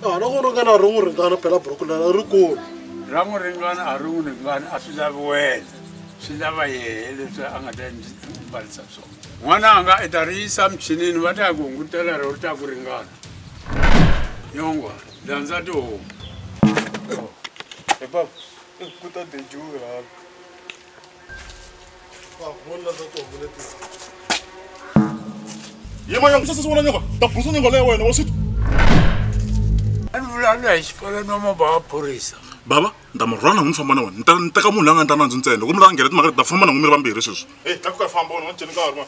a loko u ringana a ri n'wi ringana phela buruku leri a ri kulu ra n'wi ringana a ri n'wi ringana a swi lavi wena swi lava yehe leswi a nga ta mbarisa swona n'wananga i ta ri yisa michinini va ta ya ku hungutela ro ri ta ku ringana nyongwa landza tihomu epa kuta dejuwe hala yema yangu sasa siwona nyoka tabusa nyoka leyo wena wasitu anivulana hi xikolo no maba wa phorisa baba nda mi rhwala n'wi famba na wena nta ni teka munhu la nga ntanandzi ntsena loko mi langela timhaka ta famba na n'wi mi ri vambirhi sweswi Hey, tlakuka famba wena, un'wana ceni nkarhi, wena.